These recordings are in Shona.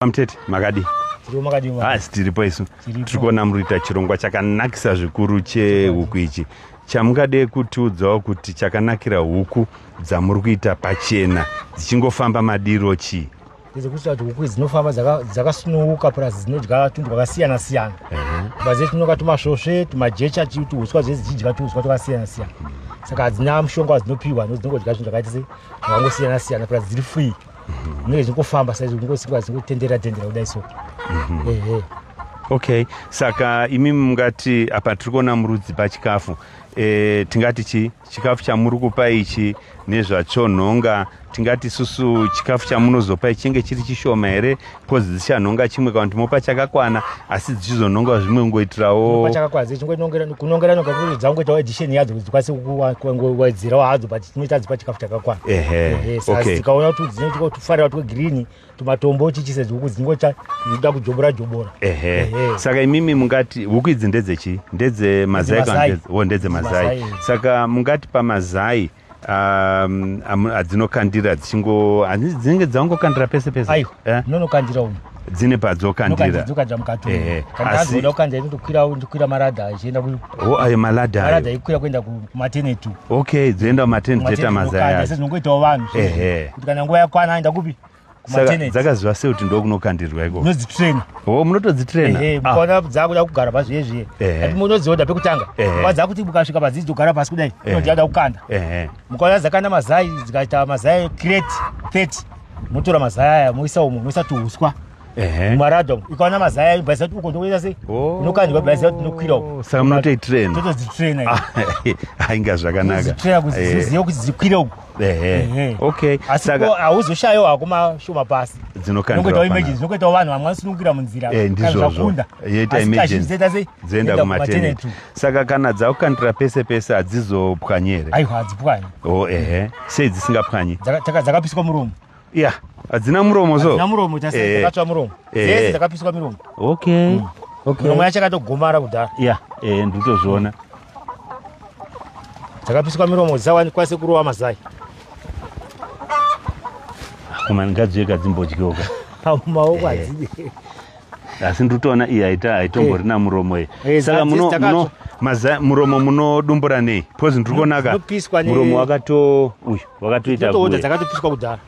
Mtete makadi hasi tiripo isu tiri kuona muri kuita chirongwa chakanakisa zvikuru chehuku ichi chamungade kutiudzawo kuti chakanakira huku dzamuri kuita pachena dzichingofamba madiro chii dzekuita kuti huku idzi dzinofamba dzakasununguka plus dzinodya tunhu twakasiyana siyana kubva dzese tinoka tumasvosve tumajecha tuhuswa zvese dzichidya tuhuswa twakasiyana siyana saka hadzina mushonga wadzinopihwa nodzinongodya zvinhu zvakaita se zvakangosiyana siyana plus dziri free zvinenge zvichingofamba saizvo kungosikwa zvingotendera tendera kudai so mhm. ehe okay saka imi mungati apa tiri kuona murudzi pachikafu e, tingati chi chikafu chamuri kupa ichi nezvachonhonga tingati susu chikafu chamunozopa ichi chenge chiri chishoma here coz dzichanhonga chimwe kana kuti mopa chakakwana asi dzichizonhonga zvimwe kungoitirawo chakakwana dzichingokunongera nonga kuti dzangoitawo addition yadzo kuti dzikwanise kuwedzerawo hadzo but tinoita dzipa chikafu chakakwana ehe tikaona kuti dzine tufarira twegreen tumatombo chichise huku dzingocha dzinoda kujobora jobora ehe saka imimi mungati huku idzi ndedzechii ndedze mazai oh, ndedze mazai saka mungati pamazai um, am- adzinokandira dzichingo hanzi dzinenge dzangokandira pese pese aiwa Eh? ndinonokandira umu dzine padzokandira nokandidzokanza mukati Ehe, kana asi- azoda kukandira inotokwira ndikwira maradha achienda ku- o ayo maradha maradha ayo ikwira kuenda kumateneti okay dzoenda kumateni dzoita mazaya acho sezinongoitawo vanhu Ehe. kuti kana nguva yakwana aenda kupi saka dzakaziva sei kuti ndokunokandirwa iko unodzitraina o oh, munotodzitraina ah. mukaona dzakuda kugara pazviye zviye ati munoziva kuti pekutanga kwadza kuti mukasvika padzidzi dzogara pasi kudai inodiyada kukanda mukaona dzakanda mazai dzikaita mazai crate 30 motora mazai aya moisa umo moisa tuhuswa maradom ikaona mazaya ibhaisa kuti uko ndokuita sei oh. unokandirwa bhaisa kuti nokwira uko saka munotoitraina totodzitraina ah, ainga zvakanaka kuziziva kuti dzikwire uko hauzoshayo hako mashoma pasi dzinokangoitawo imagine dzinokuitawo vanhu vamwe vanosunungukira munzira eh, ndizvozvoenda kumateneti saka kana dzakukandira pese pese hadzizopwanyere aiwa hadzipwanye oh, ehe sei dzisingapwanye dzakapiswa muromo ya hadzina muromo so hadzina muromo tasi eh. dzakatsva muromo eh. dzese dzakapiswa miromo okay mm. okay miromo yacho yakatogomara kudhara ya eh nditozviona dzakapiswa miromo dzisawani kwase kurowa mazai koma ngadziyeka dzimbodyoka pamaoko eh. hadzidi asi ndiri kutoona iyi haita haitombori eh. na muromo iyi eh, saka muno muno maza muromo munodumbura nei because ndiri kuona ka muromo wakato uyu wakatoita kuwe dzakatopiswa kudhara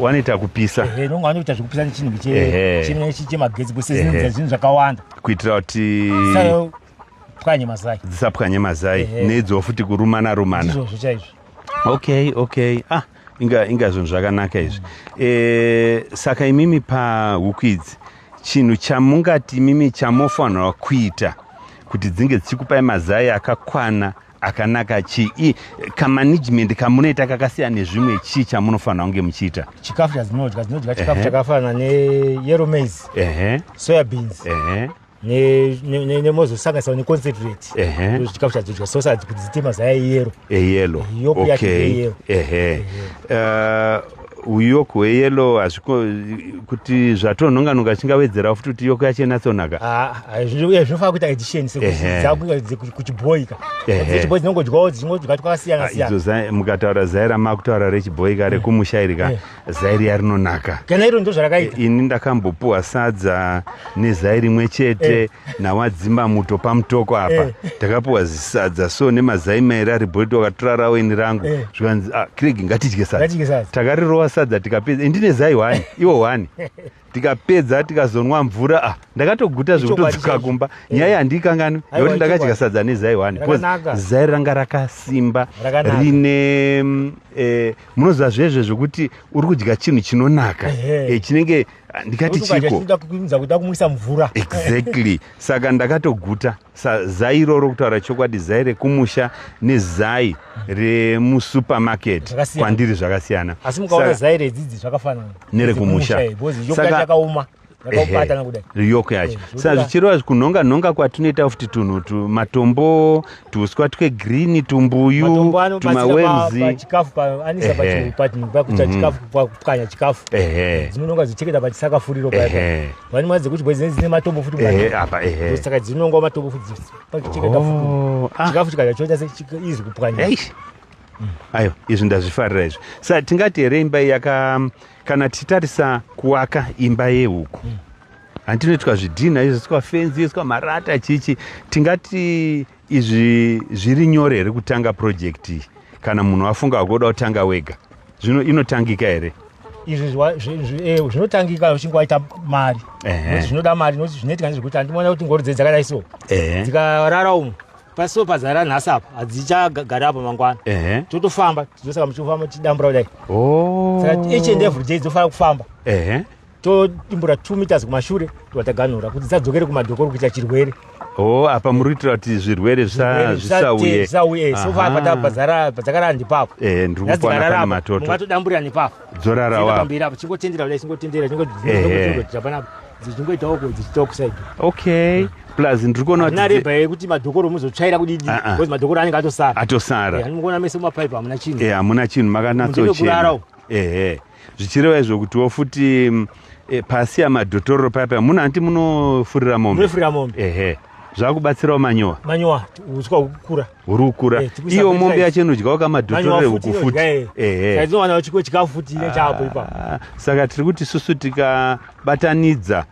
wanoita kupisa ehe nonga wanoita zvekupisa nechinhu kiche chimwe nechi chemagetsi because zvinhu zvinhu zvakawanda kuitira kuti pwanye mazai dzisapwanye mazai neidzo futi kurumana rumana izvozvo chaizvo okay okay ah inga inga zvinhu zvakanaka izvi e, saka imimi pahuku idzi chinhu chamungati imimi chamofanirwa kuita kuti dzinge dzichikupai mazai akakwana akanaka chii kamanagement kamunoita kakasiyana nezvimwe chii chamunofanira kunge muchiita chikafu chadzinodya dzinodya chikafu chakafanana neyero maize soya beans nemozosanganisira neconcentrate chikafu chadzodya sausage kuti dziite mazaya eyero eyelo yoku yake eyero ehe uyoku hweyelo hazviko kuti zvatonhonganonga chingawedzerawo futi kuti yoko yacho inatsonaka ah, ah, zvinofana kuita edition sekuchibhoika dzechibhoi dzinongodyawo dzichingodya twakasiyana ah, siyana mukataura zai ramakutaura rechibhoika rekumusha iri ka zai riya rinonaka kana iro ndo zvarakaita eh, ini ndakambopuwa sadza nezai rimwe chete eh. nawadzimba muto pamutoko apa eh. takapuwa zisadza so nemazai mairi ari bhoti wakatora raweni rangu eh. zvikanzi ah, craig ngatidye sadza takarirova sadza tikapedza indine zai hwani iwo hwani tikapedza tikazonwa mvura ah, ndakatoguta zvekutodzoka kumba eh. nyaya handiikanganwi yekuti ndakadya sadza nezai one bcause zai ranga rakasimba rine mm, eh, munoziva zvezve zvekuti uri kudya chinhu chinonaka eh, chinenge ah, ndikati chikoakuisa mvura exactly saka ndakatoguta sa zai iroro kutaura chokwadi zai rekumusha nezai remusupermarket kwandiri zvakasiyana asi mukaona zai redzidzi zvakafanana nerekumusha eh, yakaoma riyoko yacho eh, saka zvichireva kunhonga nhonga kwatinoita futi tunhu tumatombo tuuswa twegreen tumbuyu tumawerzichikafupakuchikafupwanya chikafu dzinononga dzicheketa pachisakafuriro Vani mwadze kuti bwezi dzine matombo futi mwana. Eh apa eh. eh. Saka dzinonga matombo futi. Pakicheka kafu. Oh, ah. Chikafu chikaja choita se izi kupwanya. Eish. Mm. Ayo izvi ndazvifarira izvi. Saka tingati here imba yaka kana tichitarisa kuwaka imba yehuku. Mm. Handinoitwa zvidhina izvo sikwa fenzi, sikwa marata chichi. Tingati Izvi zviri nyore here kutanga project iyi kana munhu afunga wakuda kutanga wega zvino inotangika here izvi eh, zvinotangika uchinge waita mari zvinoda mari nokuti zvinoitika nezvekuti handimoona kuti ngori dze dzakadai so dzikarara umu pasiwo pazara nhasi apa hadzichagari apa mangwana totofamba tizosaka muchifamba tichidambura kudai oh. saka each and every day dzofanira kufamba todimbura 2 meters kumashure tobva taganhura kuti dzadzokere kumadhokoro kuita chirwere oh apa muri kuitira kuti zvirwere zvisauye so papa tapazara padzakara ndipapo eh ndiri kupona kana matoto mungatodamburira nepapo dzorara wa pambira apo chingotendera kudai chingotendera chingotendera panapa dzichingoitawo ko dzichitawo kusaidi okay mm. plus ndiri kuona kuti nareba yekuti madhokoro muzotsvaira kudidi ah, ah. because madhokoro anenge atosara atosara eh, anomuona mese mumapaipi hamuna chinhu eh hamuna chinhu makanatsochera kurarawo ehe zvichireva izvo kutiwo futi e, pasi yamadhotororo paya paya muno hanti munofurira mombe ehe zvakubatsirawo manyowa manyowa uswa ukura uri ukura eh, iyo mombe yacho inodyawo kamadhotorore huku futi eh. ehe chikafu futi chapo ipa ah, saka tiri kuti susu tikabatanidza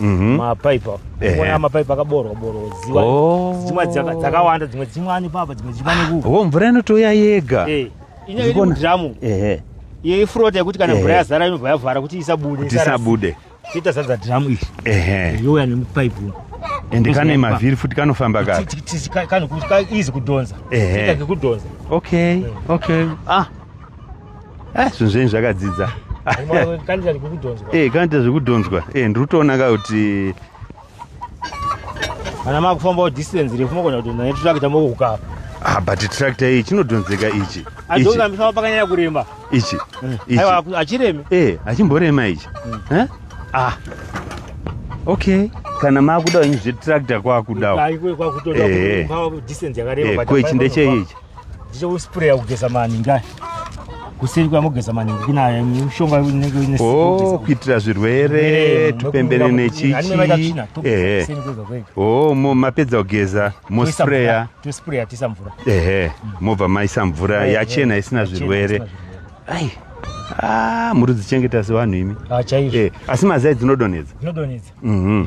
Mhm. mapaipi apo Ehe. kuona mapaipi akaboorwa boorwa ziwa Oh. dzimwe dzaka- dzakawanda dzimwe dzimwe ani papa dzimwe dzimwe ani kuku wo mvura inotouya yega Eh, inyaya iri Ndikuona- mudhiramu ehe iyo ifurota yekuti kana Ehe. mvura yazara inobva yavhara kuti isabude kuti isabude tiita zadza dhiramu iri ehe youya nemupaipi uno ende kane mavhiri futi kanofamba ka Ti- ti- ti- ka- kanokuti ka- easy kudhonza Ehe. Ita kekudhonza okay okay ah ah, zvinhu zvenyu zvakadzidza kanoita zvekudhonzwa eh, eh, ndiri kutoona ka kuti kana makufambawo distance refu mogona kuti naye trakta mokukaa ah, but tractor iyi chinodhonzeka ichi adoambisama pakanyanya kuremba ichi mm. achiremi e eh, achimborema ichi mm. eh? ah okay kana makuda wenyu zvetractor kwakudawo eh, eh. kweichi ndecheichi ndichouspray kugeza maningi aya kuseri kwamogeza maningi kunaya mushonga unenge uine oh, kuitira zvirwere tupembere nechichi ehe oh, mapedza kugeza mospraya tospraya tisa mvura ehe mobva maisa mvura yachena isina zvirwere ai ah, muri dzichengeta sevanhu imi ah, eh, asi mazai dzinodonhedza mhm.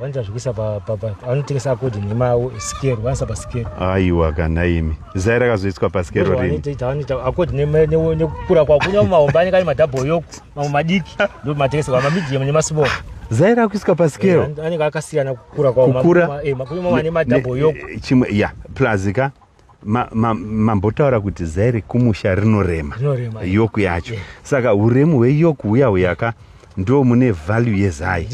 vanza zvikuisa vanotengesa akodi nhema yavo skero vanisa paskero aiwa kana imi zai rakazoiswa paskero rinivanoita akodi nekukura kwavo kunyama mahombe anenge ari madhabho yoku mamwe madiki ndo matengeserwa mamidhium nemasmall zai rakuiswa paskero eh, anenge akasiyana kukura kwavo kukura eh, kunyama ane madhabho yoku eh, chimwe ya plazika mambotaura ma, ma kuti zai rekumusha rinorema yoku yacho yeah. saka uremu hweyoku huya huyaka ndo mune value yezai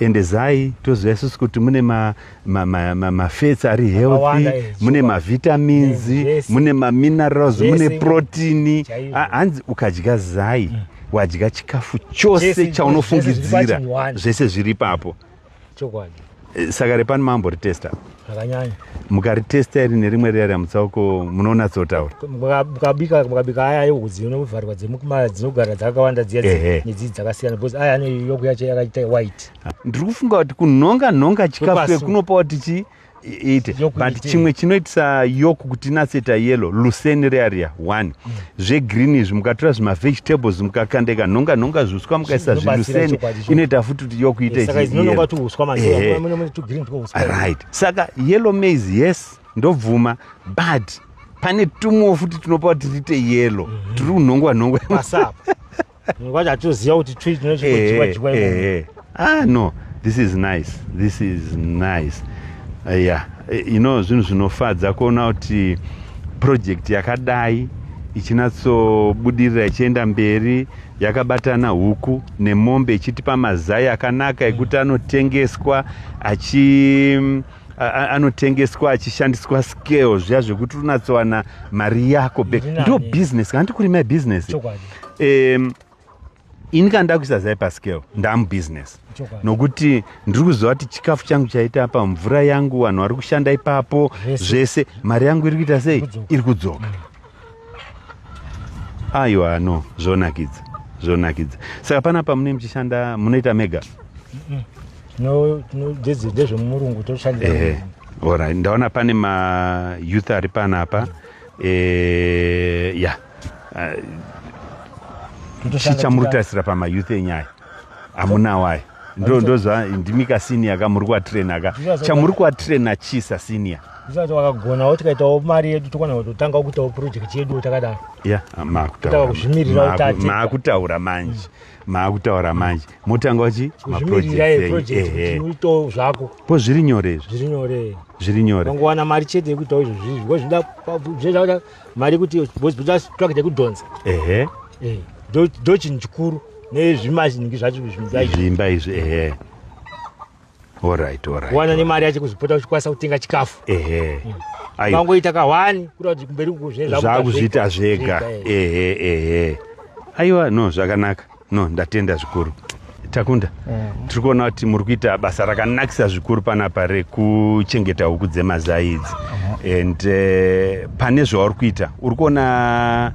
ende zai toziva isusu kuti mune mafats ma, ma, ma ari healthy eh, mune mavitamins yeah, yes. mune maminerals yes, mune protini hanzi ukadya zai mm. wadya chikafu chose chaunofungidzira zvese zviri papo chokwadi saka repani mambo ritesta zvakanyanya mukaritesta iri nerimwe riya riamutsauko munonatsotaura mukabika mukabika aya ayehudzi inovharwa dzemukuma dzinogara dzakawanda dziya nedzii dzakasiyana because aya ane yokuyacho yakaita white ndiri kufunga kuti kunhonga nhonga chikafu kekunopawo tichii iite but chimwe chinoitisa yoku kuti inaseta yellow luseni rearia one mm. zvegreen izvi mukatora zvimavegetables mukakandeka nhonga nhonga zviuswa mukaisa zviluseni inoita futi kuti yoku ite right saka yellow maize yes ndobvuma but pane tumwewo futi tunopa kuti tiite yellow mm-hmm. tiri kunhongwa nhongwa Ngoja atuziva kuti chui chino chiko eh, chikwa chikwa. Eh, eh. Ah no, this is nice. This is nice. Uh, yeah. You know zvinhu zvinofadza kuona kuti project yakadai ichinatsobudirira ichienda mberi yakabatana huku nemombe ichitipa mazai akanaka ekuti anotengeswa achi anotengeswa achishandiswa scale zviya zvekuti unatsowana mari yako back ndo business kana ndikuri my business um, ini kana ndakuisa zai pascale ndamubusiness nokuti ndiri kuziva kuti chikafu changu chaita apa mvura yangu vanhu vari kushanda ipapo zvese mari yangu iri kuita sei iri kudzoka mm. aiwa no zvonakidza zvonakidza saka pana pamune muchishanda munoita mega dzidzi ndezvemurungu toshandisa orit ndaona pane mayouth ari panapa eh, ya eh, chichamurutarisira pamayouth enyaya amunawai ndo ndozva ndimi ka senior ka muri kuatraina ka chamuri kuatraina chii sasenior zvisati wakagona wo tikaitawo mari yedu tokwana kutotanga kuitawo project yedu takadaro ya ah, maakutaura kuzvimirira utati maakutaura manje maakutaura manje motanga wachi maprojectito zvako po zviri nyore izvi zviri nyore zviri nyore vangowana mari chete yekuitawo izvo zvizvi ngo zvida zvezvaa mari kuti bochitsvake chekudhonza ehe eh, ndo chinhu chikuru nezvimazingi zvacho zvimba izvi ehe orit orit wana nemari yacho kuzvipota uchikwanisa kutenga chikafu ehe mm. vangoita kahwani kuita kuti kumberi kuzvezvakuzviita zvega ehe ehe aiwa no zvakanaka no ndatenda zvikuru takunda mm. tiri kuona kuti muri kuita basa rakanakisa zvikuru panapa rekuchengeta huku dzemazai idzi mm. and uh, pane zvauri kuita uri kuona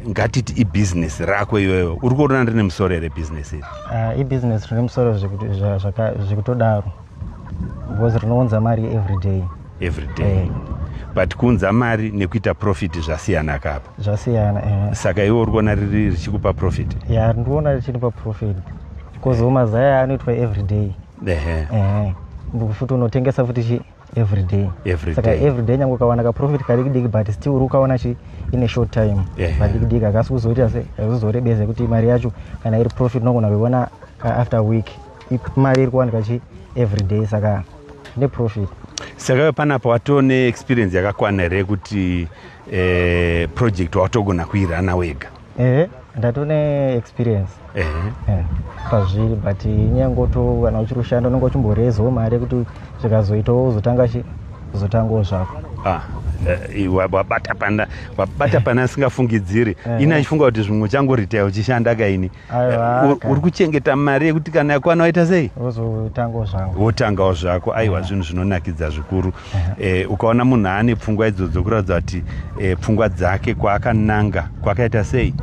ngatiti ibhizinesi rako iyoyo uri kuona rine musoro here bhizinesi iri uh, ibhizinesi rine musoro zvekutodaro because rinounza mari everyday everyday eh. but kuunza mari nekuita profit zvasiyana kapa zvasiyana eh. saka iwe uri kuona riri richikupa profit ya yeah, ndikuona richinipa profit because eh. mazaya anoitwa everyday ehe eh. futi unotengesa futi chi everyday every saka everyday nyange ukawana kaprofit kadikidiki but still uri ukaona chi in a short time yeah, kadikidiki akasi kuzoita se kuzorebeza kuti mari yacho kana iri profit unogona kuiona after week mari iri kuwanika chi everyday saka neprofit saka panapa watoo neexperience yakakwana here kuti eh, project watogona kuirana wega ehe ndato neexperience ehe eh, pazviri but nyangoto kana uchiri kushanda unenge uchimborezawo mari yekuti zvikazoitawo uzotanga chi uzotangawo zvako ah, eh, wabata pana wabata pana asingafungidziri eh. ini achifunga kuti zvimwe uchangoritae uchishanda kaini uri kuchengeta mari yekuti kana yakwana waita sei wotangawo zvako aiwa zvinhu zvinonakidza zvikuru eh, ukaona munhu aane pfungwa idzodzo kuratidza kuti eh, pfungwa dzake kwaakananga kwakaita sei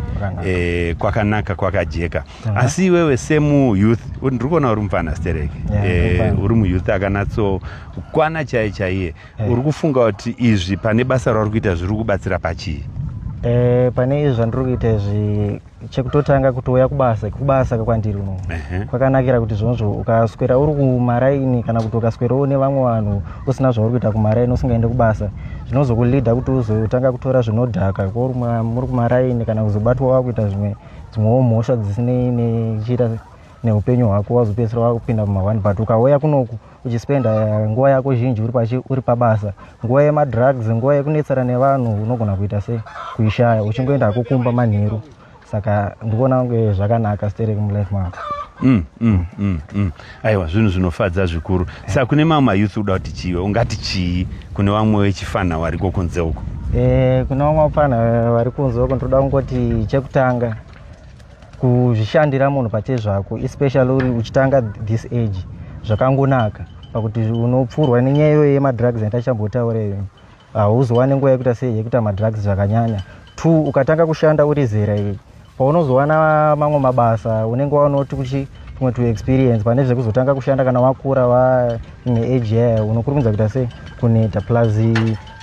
eh, kwakanaka kwakajeka asi iwewe semuyouth ndiri kuona uri mupfana stereki uri muyouth akanatsoukwana chaiye chaiye uri kufunga kuti izvi pane basa rauri kuita zviri kubatsira pachii pane izvi zvandiri kuita izvi chekutotanga kutouya kubasa kubasa kwandiri uno kwakanakira kuti zvonzvo ukaswera uri kumaraini kana kuti ukaswera une vamwe vanhu usina zvauri kuita kumaraini usingaende kubasa zvinozokulida kuti uzotanga kutora zvinodhaka kuri muri kumaraini kana kuzobatwa wakuita zvimwe dzimwewo mhosva dzisinei nechiita neupenyu hwako wazopedzisira wakupinda muma one but ukauya kunoku uchispenda eh, nguva yako zhinji uri pachi uri pabasa nguva yemadrugs nguva yekunetsana nevanhu unogona kuita sei kuishaya uchingoenda hako kumba manheru saka ndikuona kunge zvakanaka stereki mulife mako Mm, mm, mm, mm. aiwa zvinhu zvinofadza zvikuru yeah. saka kune mamwe mayouth uda kuti chiiwe ungati chii kune vamwe vechifanha variko kunze uko e, kune vamwe vafanha vari kunze uko ndinoda kungoti chekutanga kuzvishandira munhu pachezvako especially uri uchitanga this age zvakangonaka pakuti unopfurwa nenyaya iyoyo yemadrugs yandachambotaura iyoyo hauzowane nguva yekuita sei yekuita madrugs zvakanyanya two ukatanga kushanda uri zera iyi paunozowana mamwe mabasa unenge waonoti kuchi kumwe to experience pane zvekuzotanga kushanda kana wakura waine age yaya unokurumidza kuita sei kuneta plus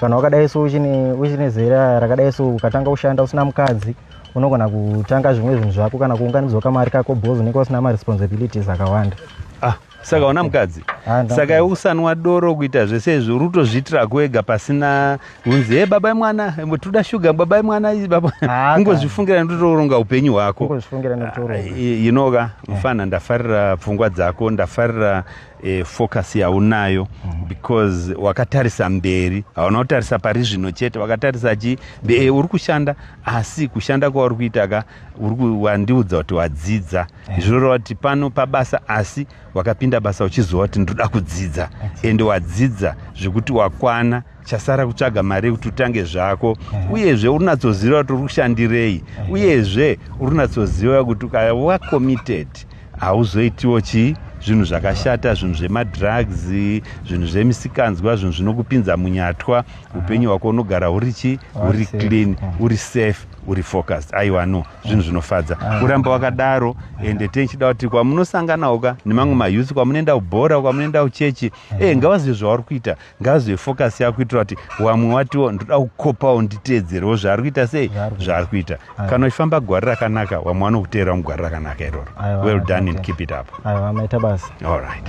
kana wakadai so uchine zera rakadai so ukatanga kushanda usina mukadzi unogona kutanga zvimwe zvinhu zvako kana kuunganidzwa kamari kako bhozi unenge usina maresponsibilities akawanda ah, saka una mukadzi ah, saka usanwa doro kuita zvese izvi uri kutozviitira kuega pasina unzi he baba imwana toda shuga baba imwana kungozvifungira ndotoronga upenyu hwako ah, inoka eh. mufana ndafarira pfungwa dzako ndafarira e, focus yaunayo mhm. because wakatarisa mberi hauna kutarisa pari zvino chete wakatarisa chi e, uri kushanda asi kushanda kwauri kuita ka wandiudza kuti wadzidza eh. zvirora kuti pano pabasa asi wakapinda basa uchiziva kuti ndoda kudzidza ende wadzidza zvekuti wakwana chasara kutsvaga mari yekuti utange zvako mhm. uyezve urinatsoziva kuti uri kushandirei mhm. uyezve urinatsoziva kuti ukaya wacommitted hauzoitiwo chii zvinhu zvakashata zvinhu zvemadrugs zvinhu zvemisikanzwa zvinhu zvinokupinza munyatwa upenyu hwako unogara uri chi uri clean uri safe uri focused aiwa no zvinhu zvinofadza ah. kuramba wakadaro ende tenchida kuti kwamunosanganawo ka nemamwe mayouth kwamunoenda kubhora kwamunoenda kuchechi e eh, ngawazive zvauri kuita ngazve focus yako kuitira kuti wamwe watiwo ndoda kukopawo nditeedzerewo zvaari kuita sei zvaari kuita kana uchifamba gwari rakanaka wamwe wanokuteerawo mugwari rakanaka iroro well done and keep it up aiwa maita basa all right